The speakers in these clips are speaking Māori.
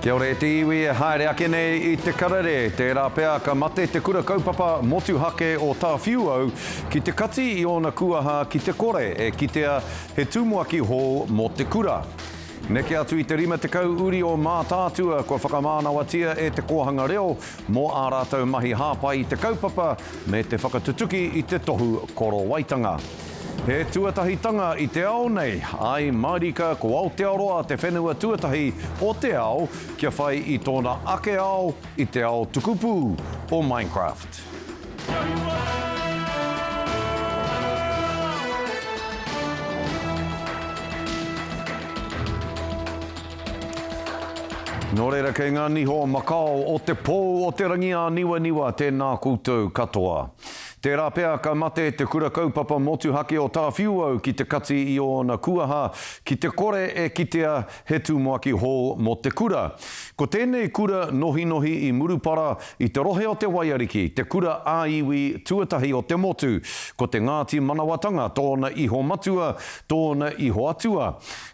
Kia ora e te iwi e haere ake nei i te karere, tērā pea ka mate te kura kaupapa motuhake o Tāwhiuau ki te kati i ōna kūaha ki te kore e kitea he tumuaki hou mō te kura. Neke atu i te 50 uri o Mātaatua kua whakamānawatia e te kōhanga reo mō ā rātou mahi hāpai i te kaupapa me te whakatutuki i te tohu korowaitanga. He tuatahitanga i te ao nei, āe mārika ko Aotearoa te whenua tuatahi o te ao kia whai i tōna ake ao i te ao tukupū o Minecraft. Nō reira kei ngā niho makao o te pou o te rangi āniwaniwa tēnā koutou katoa. Tērā pea ka mate te Kura Kaupapa Motuhake o Tāwhiuau ki te kati i ōna kuaha ki te kore e kitea he tumuaki hou mō te kura. Ko tēnei kura nohinohi i Murupara i te rohe o Te Waiariki, te kura ā-iwi tuatahi o te motu, ko te Ngāti Manawatanga tōna iho matua, tōna iho atua.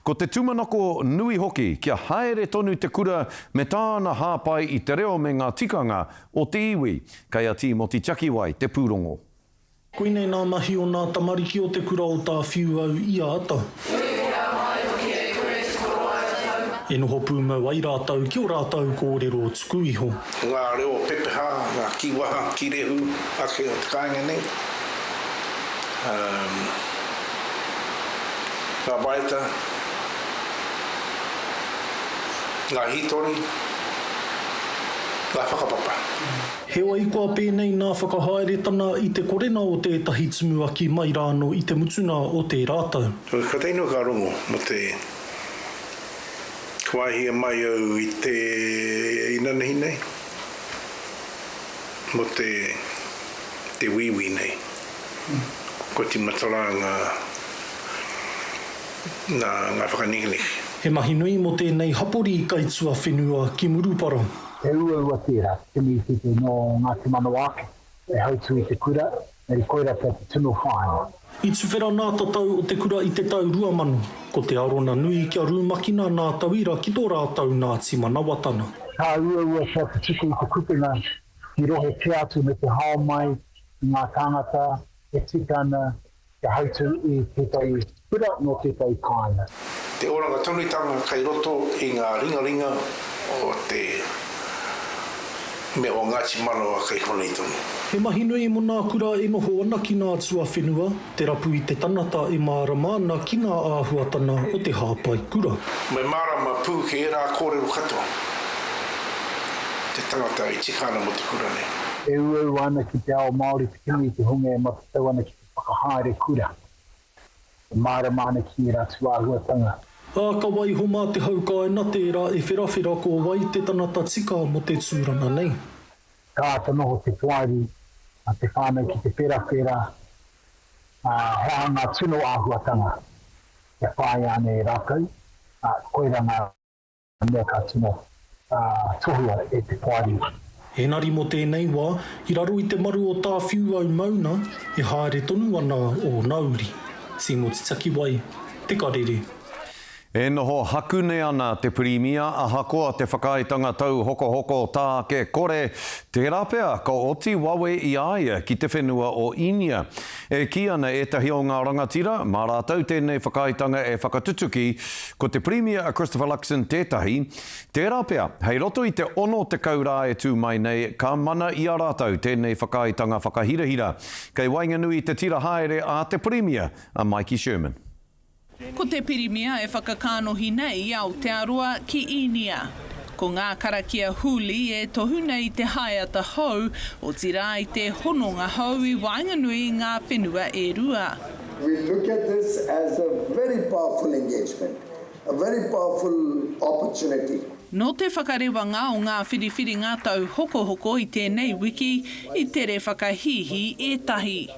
Ko te tumanako nui hoki kia haere tonu te kura me tāna hāpai i te reo me ngā tikanga O te iwi, kei a Tīmoti Takiwai te pūrongo. Koinei nā mahi o nā tamariki o te kura o Tāwhiuau i āta. Tuwhera mai hoki e Chris ko rātou. E noho pūmau ai rātou ki o rātou kōrero tuku iho. Ngā reo pepeha, ngā kīwaha, kīrehu ake o te kāinga nei, umm, ngā waeata, ngā hītori. ngā whakapapa. Heoi, kua pēnei ngā whakahaeretanga i te korena o tētahi tumuaki mai rāno i te mutunga o tērā tau. Ko teinua ka rongo mō te wāhia mai au i te inanahi nei, mō te wīwī nei, kua tīmata rā ngā. nā ngā whakanekene. He mahi nui mō tēnei hapori kaituawhenua ki Murupara. He uaua tērā, te miritete nō Ngāti Manawa ake, hei hautū i te kura, engari koirā pea te tino whāinga. I tuwhera nā tatau o te kura i te tau 2000, ko te arona nui kia rumakina nā tauira ki tō rātau Ngāti Manawa tana. Ka uaua pea te tuku i te kupenga ki rohe kē atu me te hao mai i ngā tāngata e tika ana Kia hautū i tētahi kura mō tētahi kāinga. Te oranga tonutanga kei roto i ngā ringaringa o te mea o Ngāti Manawa kei konei tonu. He mahi nui mo nā kura e noho ana ki nā tuawhenua, te rapu i te tangata e mārama ana ki ngā āhuatana o te hāpai kura. Me mārama pū ki ērā kōrero katoa te tangata e tika ana mo te kura nei. E uaua ana ki te ao Māori te kimi i te hunga e matatau ana ki. Whakahaere kura. E mārama ana ki ērā tūāhuatanga. Ā, ka waiho mā te haukae na tērā e wherawhera ko wai te tangata tika mo te tūranga nei. Ka āta noho te poari a te whānau ki te wherawhera, ā, he aha ngā tino āhuatanga e whāia ana e rātou, ā, koirā ngā. Mea ka tino tohua e te poari. Engari mo tenei wa, i raro i te maru o Tawhiu au mauna, e haere tonu ana ona uri. Timoti Takiwai, Te Karere. E noho haku nei ana te Pirimia ahakoa te whakaaetanga tauhokohoko tā ake kore, tērā pea ka oti wawe i a ia ki te whenua o Īnia. E kī ana ētahi o ngā rangatira, mā rātou tēnei whakaaetanga e whakatutuki, ko te Pirimia a Christopher Luxon tētahi, tērā pea, hei roto i te 60 rā e tū mai nei, ka mana i a rātou tēnei whakaaetanga whakahirahira. Kei waenganui i te tira haere a te Pirimia, a Maiki Sherman. Ko te Pirimia e whakakānohi nei i Aotearoa ki Īnia. Ko ngā karakia huli e tohu nei i te haeata hou, otirā i te hononga hou i waenganui i ngā whenua e rua. We look at this as a very powerful engagement, a very powerful opportunity. Nō te whakarewanga o ngā whiriwhiringa tauhokohoko i tēnei wiki, i tere whakahīhī ētahi.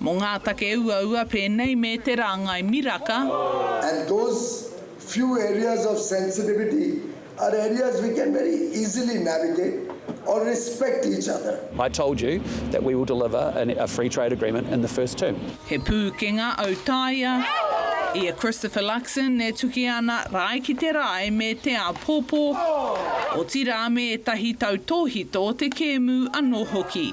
Mō ngā take uaua pēnei me te rāngai miraka. And those few areas of sensitivity are areas we can very easily navigate or respect each other. I told you that we will deliver a free trade agreement in the first term. He pūkenga autaia ia Christopher Luxon e tuki ana rae ki te rae me te āpōpō, otirā me ētahi tautōhito o te kēmu anō hoki.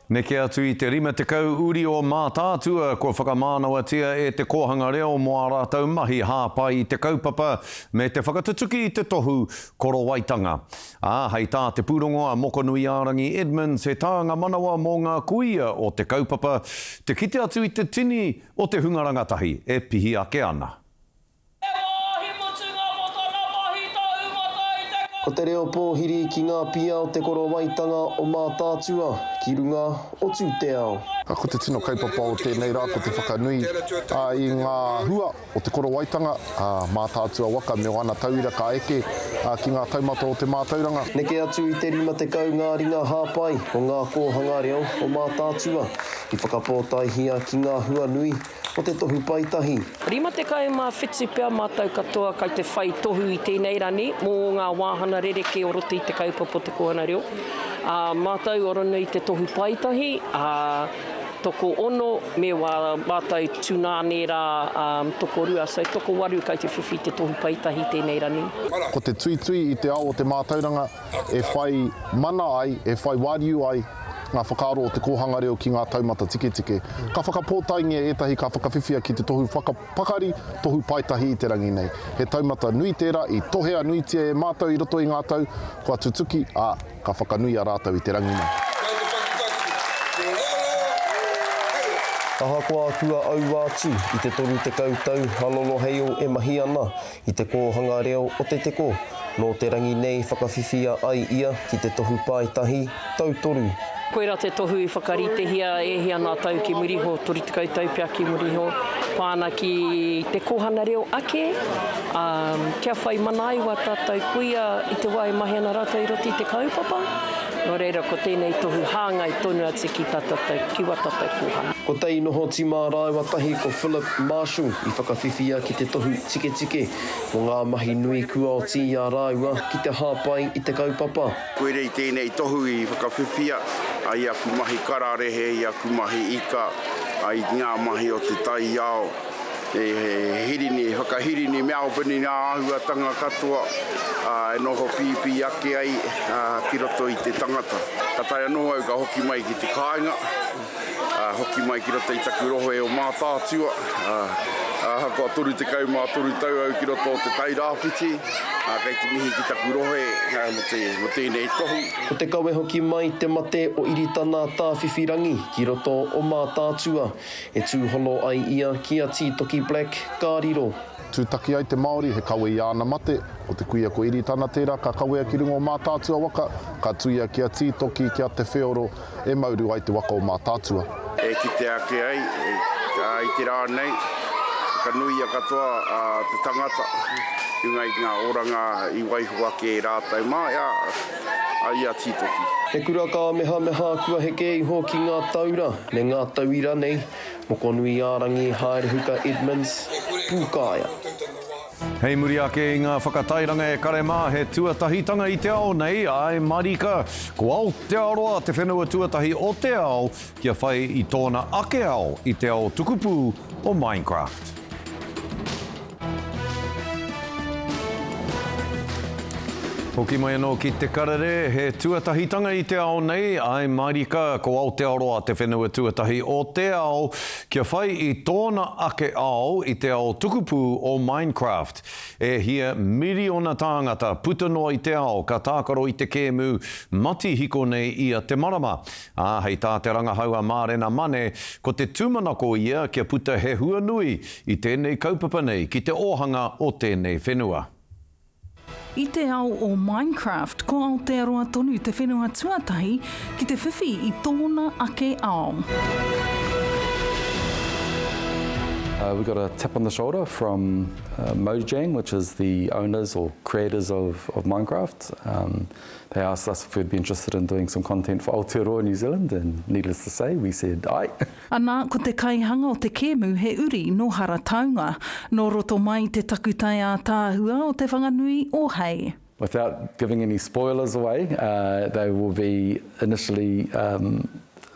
Neke atu i te 50 uri o Mātaatua kua whakamānawatia e te kōhanga reo mō ā rātou mahi hāpai i te kaupapa me te whakatutuki i te tohu korowaitanga. Ā, hei tā te pūrongo a Mokonuiārangi Edmonds he tānga manawa mō ngā kuia o te kaupapa te kite atu i te tini o te hunga rangatahi e pihi ake ana. He wāhi mutunga mō tana mahi tā Umata i te kai. Ko te reo pōhiri ki ngā pia o te korowaitanga o Mātaatua ki runga o Tūteao. A ko te tino kaupapa o tēnei rā ko te whakanui i ngā hua o te korowaitanga a Mātaatua waka me ōna tauira ka eke ki ngā taumata o te mātauranga. Neke atu i te 50 ngā ringa hāpai o ngā kōhanga reo o Mātaatua i whakapōtaehia ki ngā hua nui o te Tohu Paetahi. 57 pea mātou katoa kei te whai tohu i tēnei rangi mō ngā wāhanga rerekē o roto i te kaupapa o te kōhanga reo. Ā, mātou ora nei te Tohu Paetahi, ā, tokoono me wā mātou tūnāne rā, ā, tokorua, so tokowaru kei te whiwhi i te Tohu Paetahi i tēnei rangi. Ko te tuitui i te ao o te mātauranga e whai mana ai, e whai wāriu ai ngā whakaaro o te kōhanga reo ki ngā taumata tiketike. Ka whakapōtaengia ētahi ka whakawhiwhia ki te tohu whakapakari, tohu paetahi i te rangi nei. He taumata nui tērā i tohea nuitia e mātou i roto i ngā tau kua tutuki, ā, ka whakanuia rātou i te rangi nei. Kei te takitaki te reo hei. Ahakoa kua aua atu i te toru tekau tau a Loloheio e mahi ana, i te kōhanga reo o Te Teko, nō te rangi nei whakawhiwhia ai ia ki te tohu pae tahi, tau toru. Koirā te tohu i whakarītehia e hia ngā tau ki muri iho, 30 tau pea ki muri iho, pā ana ki te kōhanga reo ake, ā, kia whai mana ai wā tātou kuia i te wā e mahi ana rātou i roto i te kaupapa. Nō reira, ko tēnei tohu hāngai tonu atu ki tā tātou, ki wā tātou kūhara. Ko Tei Noho Tima rāua tahi ko Philip Marshall i whakawhiwhia ki te tohu tiketike mō ngā mahi nui kua oti i a rāua ki te hāpai i te kaupapa. Koira i tēnei tohu i whakawhiwhia ai aku mahi kararehe, i aku mahi ika, ai i ngā mahi o te taiao. He hirini, he whakahirini mea open i ngā āhuatanga katoa e noho pīpī ake ai ki roto i te tangata. Ka tae anō au ka hoki mai ki te kāinga, hoki mai ki roto i taku rohe o Mātaatua. Ahakoa 33 tau au ki roto o Te Tai Rāwhiti, kei te mihi ki taku rohe mō tēnei tohu. Ko te kawe hoki mai te mate o Iritana Tāwhiwhirangi ki roto o Mātaatua. E tūhono ai ia ki a Tītoki Black, ka riro. Tūtaki ai te Māori, he kawe i āna mate. Ko te kuia ko Iritana tērā ka kawea ki runga o Mātaatua waka, ka tuia ki a Tītoki, ki a Te Wheoro, e mauru ai te waka o Mātaatua. E kite ake ai, i te rā nei, whakanuia katoa te tangata, ki ngā oranga i waiho ake e rātou mā. a ia tītoki. He kura kāmehameha kua heke iho ki ngā taura me ngā tauira nei, Mokonuiārangi, Haerehuka Edmonds, Pūkaea. Hei muri ake i ngā whakatairanga e kare mā he tuatahitanga i te ao nei, āe marika, ko Aotearoa te whenua tuatahi o te ao Kia whai i tōna ake ao i te ao tukupū o Minecraft. Hoki mai anō ki Te Karere, he tuatahitanga i te ao nei, āe mārika, ko Aotearoa te whenua tuatahi o te ao, kia whai i tōna ake ao i te ao tukupū o Minecraft. E hia miriona tāngata puta noa i te ao ka tākaro i te kēmu matihiko nei ia te marama, Ā, hei tā te rangahau a Mārena Mane, ko te tūmanako ia kia puta he hua nui i tēnei kaupapa nei ki te ōhanga o tēnei whenua. I te ao o Minecraft, ko Aotearoa tonu te whenua tuatahi ki te whiwhi i tōna ake ao. We got a tap on the shoulder from Mojang which is the owners or creators of Minecraft. They asked us if we'd be interested in doing some content for Aotearoa New Zealand and needless to say, we said aye. Anā, ko te kaihanga o te kēmu he uri nō Harataunga, nō roto mai i te takutai ātaahua o Te Whanganui o Hei. Without giving any spoilers away, they will be initially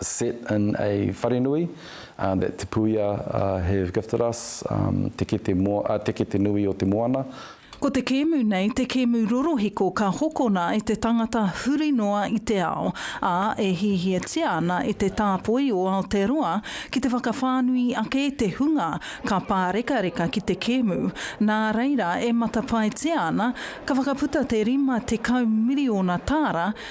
set in a wharenui that Te Puia have gifted us, Te Kete Nui o te Moana. Ko te kēmu nei te kēmu rorohiko ka hokona e te tangata huri noa i te ao, ā, e hihiatia ana e te tāpoi o Aotearoa ki te whakawhānui ake te hunga ka pārekareka ki te kēmu, nā reira e matapaetia ana ka whakaputa te 50 miriona tāra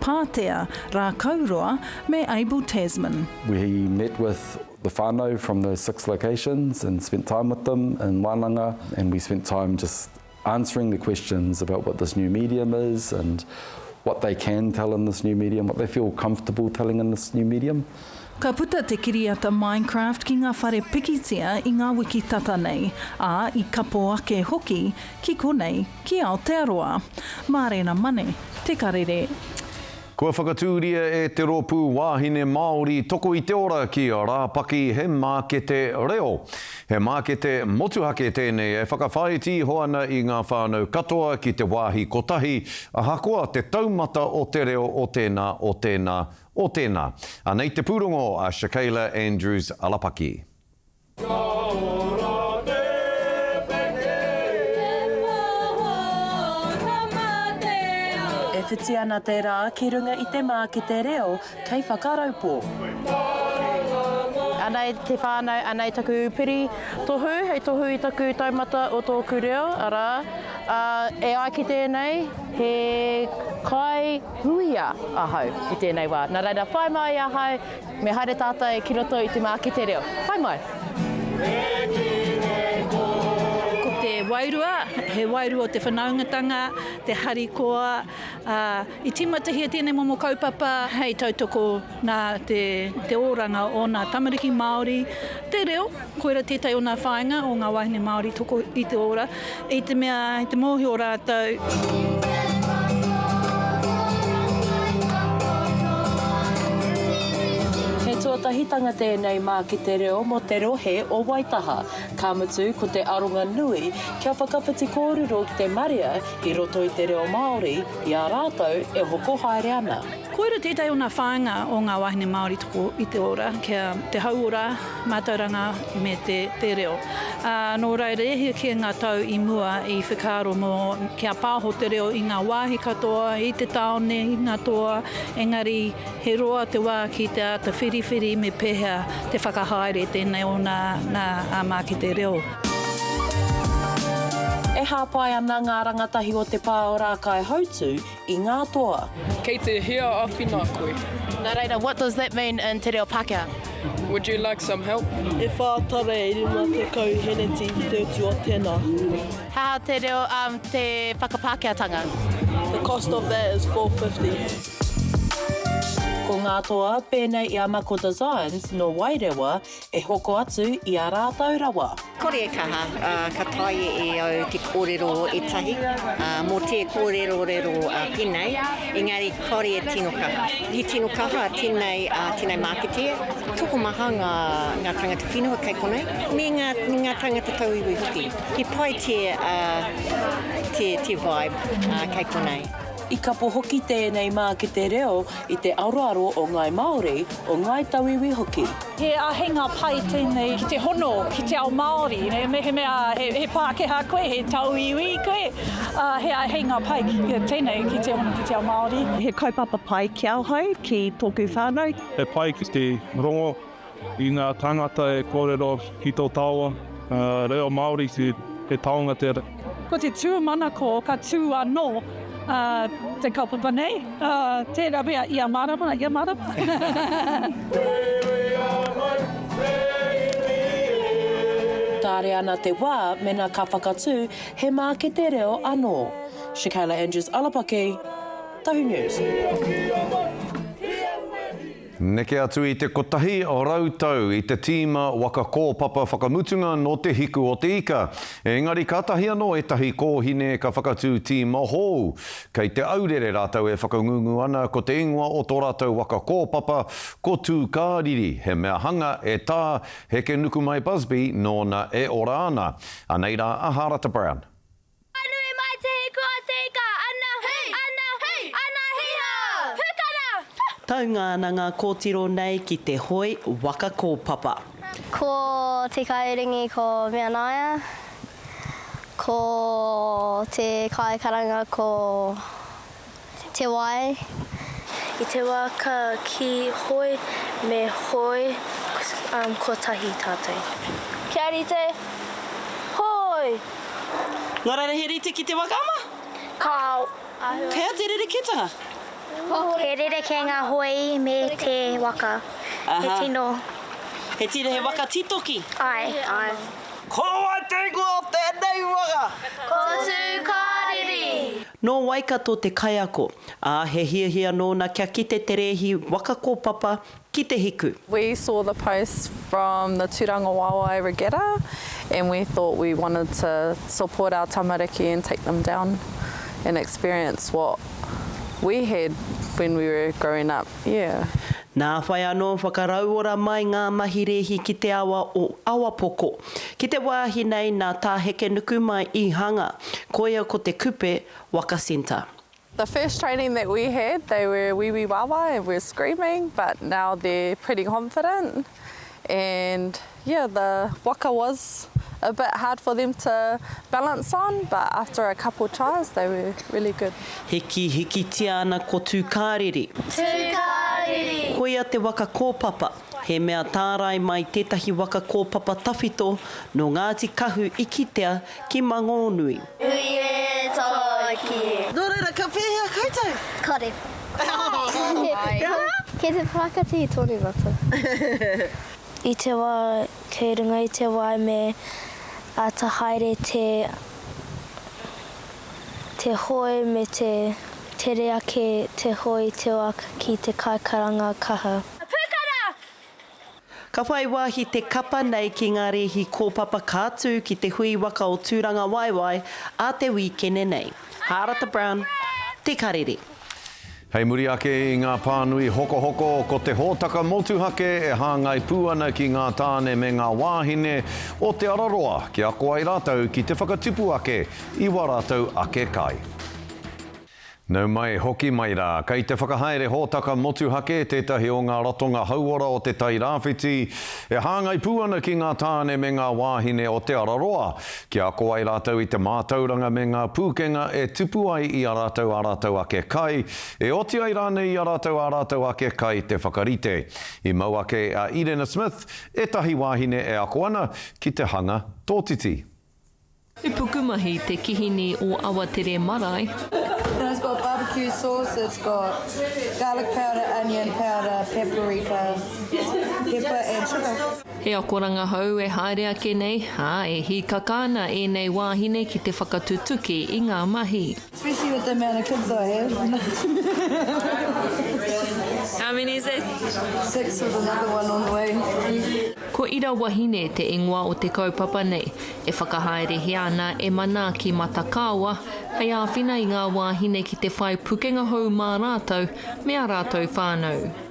Pātea, Rākauroa me Abel Tasman. We met with the whanau from those six locations and spent time with them in Wananga and we spent time just answering the questions about what this new medium is and what they can tell in this new medium, what they feel comfortable telling in this new medium. Ka puta te kiriata Minecraft ki ngā whare pikitia i ngā wiki tata nei, ā, i kapo ake hoki ki konei. Ki Aotearoa. Mārena Mane, Te Karere. Kua whakatūria e te rōpū Wāhine Māori Toko i te Ora ki Rāpaki he mākete reo. He mākete motuhake tēnei e whakawhāiti iho ana i ngā whānau katoa ki te wāhi kotahi, ahakoa te taumata o te reo o tēnā, o tēnā, o tēnā. Anei te pūrongo a Shakayla Andrews-Alapaki. E whiti ana te rā ki runga i te mākete reo kei Whakaraupō. Anei te whānau, anei taku piri tohu hei tohu i taku taumata o tōku reo, arā, e ai ki tēnei, he kaihuia ahau i tēnei wā. Nā reira, whai mai ahau Me haere tātai ki roto i te māki te reo. Whai mai! Ko te wairua, he wairua o te whanaungatanga, te harikoa, ā, i tīmatahia tēnei momo kaupapa hei tautoko nā te oranga o ngā tamariki Māori, te reo, Koira tētahi o ngā whāinga o ngā wāhine Māori toko i te ora, i te mea i te mōhio rātou. He tuatahitanga tēnei mā ki te reo mō te rohe o Waitaha, ka mutu ko te aronga nui kia whakawhiti kōrero ki te marea i roto i te reo Māori i a rātou e hoko haere ana. Koira tētahi o ngā whāinga o ngā wāhine Māori toko i te ora, kia te hauora Mātauranga me te reo. Ā, nō reira e hia kē ngā tau i mua i whakaaro mō kia pāho te reo i ngā wāhi katoa, i te tāone, i ngā toa, engari he roa te wā ki te āta whiriwhiri me pēhea te whakahaere tēnei o nā, nā ā mākete reo. E hāpai ana ngā rangatahi o te pā o Rākaihautū i ngā toa. Kei te hea awhina koe? Nā reira, what does that mean in te reo Pākehā? Would you like some help? E whā tara e rima tekau heneti ki te utu o tēnā. He aha te reo, um, te whakapākehātanga? The cost of that is four fifty. Ko ngā toa, pēnei i a Mako Designs, nō Wairewa, E hoko atu i a rātou rawa. Kore e kaha, ā, ka taea e au te kōrero ētahi, ā, mō te kōrerorero pēnei, engari kāore e tino kaha. He tino kaha tēnei, ā, tēnei mākete, tokomaha ngā, ngā tāngata whenua kei konei, me ngā, me ngā tāngata tauiwi hoki. He pai te, ā, te, te vibe, ā, kei konei. I kapo hoki tēnei mākete reo i te aroaro o Ngāi Māori, o Ngāi Tauiwi hoki. He āheinga pai tēnei ki te hono ki te ao Māori. Mehemea he Pākehā koe, he Tauiwi koe, he āheinga pai tēnei ki te hono ki te ao Māori. He kaupapa pai ki ahau, ki tōku whānau. He pai ki te rongo. I ngā tāngata e kōrero ki tō taua reo Māori he taonga tērā. Ko te tūmanako ka tū anō te kaupapa nei, tērā pea i a mārama, i a mārama. Kāre ana te wā mēnā ka whakatū he mākete reo anō. Shakayla Andrews Alapaki, Tahu News. Neke atu i te kotahi rau tau i te tīma waka kōpapa whakamutunga nō Te Hiku o te Ika, ēngari kātahi anō ētahi kōhine ka whakatū tīma hou. Kei Te Aurere rātou e whakangungu ana ko te ingoa o tō rātou waka kōpapa ko Tūkāriri, he mea hanga e Tā Hekenukumai Busby nōna e ora ana. Anei rā a Harata Brown. Ka nui mai te hiku a te ika, ana, ana, ana, hi ha! Pukana! Taunga ana ngā kōtiro nei ki te hoe waka kōpapa. Ko te kairingi ko Meanaia, ko te kaikaranga ko. te wai, i te wā ka kī hoi me hoi kotahi tātou. Kia rite, hoi! Ngā raira he rite ki te waka ama? Ka āhua. He aha te rerekētanga? He rerekē ngā hoi me te waka. He tino. He tino, he waka titoki. Āe, āe. Ko wai te ingoa o tēnei waka? Ko Tū Kāriri. Nō Waikato te kaiako, ā, he hiahia nōna kia kite te rēhi waka kōpapa ki te hiku. We saw the post from the Turanga Wawae Regatta and we thought we wanted to support our tamariki and take them down and experience what we had when we were growing up, yeah. Nā whai anō whakarauora mai ngā mahi rēhi ki te awa o Awapoko. Ki te wāhi nei nā Tā Hekenuku mai i hanga, koia ko te kupe Waka Centre. The first training that we had they were wiwi wawa and were screaming but now they're pretty confident and yeah the waka was a bit hard for them to balance on but after a couple trials they were really good. Hiki hikitia ana ko Tūkāriri. Tūkāriri! Koia te waka kōpapa. He mea tārai mai tētahi waka kōpapa tawhito nō Ngāti Kahu i kitea ki Mangōnui. Nui e Tōki! Nō reira, ka pēhea koutou? Kore. Kei te whakatihi tonu mātou. I te wā kei runga i te waeMe āta haere te. te hoe me te tere ake te hoe te oak ki te kaikaranga kaha. Ka whai wāhi te kapa nei ki ngā rēhi kōpapa ka tū ki te hui waka o Tūrangawaewae ā te wīkene nei. Hārata Brown, Te Karere. Hei muri ake i ngā pānui hokohoko, ko te hōtaka motuhake e hāngai pū ana ki ngā tāne me ngā wāhine o Te Araroa kia ako ai rātou ki te whakatupu ake i wā rātou ake kai. Nau mai, hoki mai rā, kei te whakahaere hōtaka motuhake tētahi o ngā ratonga hauora o Te Tairāwhiti e hāngai pū ana ki ngā tāne me ngā wāhine o Te Araroa kia ako ai rātou i te mātauranga me ngā pūkenga e tupu ai i a rātou ā rātou ake kai, e oti ai rānei i a rātou ā rātou ake kai te whakarite. I mau ake a Irena Smith, ētahi wāhine e ako ana, ki te hanga tōtiti. He pukumahi te kihini o Awatere marae. It's got barbecue sauce, it's got garlic powder, onion powder, paprika, pepper and sugar. He akoranga hou e haere ake nei, ā, e hīkaka ana ēnei wāhine ki te whakatutuki i ngā mahi. Especially with the amount of kids I have. How many is it? Six with another one on the way. Ko Ira Wahine te ingoa o te kaupapa nei, e whakahaerehia ana e Manaaki Matakaawa hei āwhina i ngā wāhine ki te whai pukenga hou mā rātou me ā rātou whānau.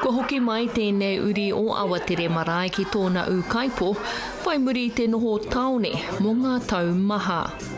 Kua hoki mai tēnei uri o Awatere marae ki tōna ūkaipō, whai muri i te noho tāone mō ngā tau maha.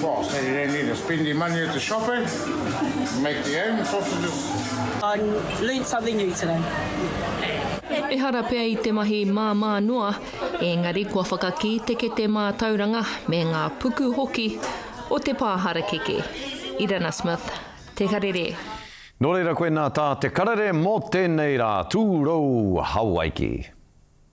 Boss, they don't need to spend their money at the shop eh? Make their own sausages. I learnt something new today. Ehara pea i te mahi māmā noa, engari kua whakakī te kete mātauranga me ngā puku hoki o te pā harakeke. Irana Smith, Te Karere. Nō reira koinā tā Te Karere mō tēnei rā, Tūrou Hawaiki.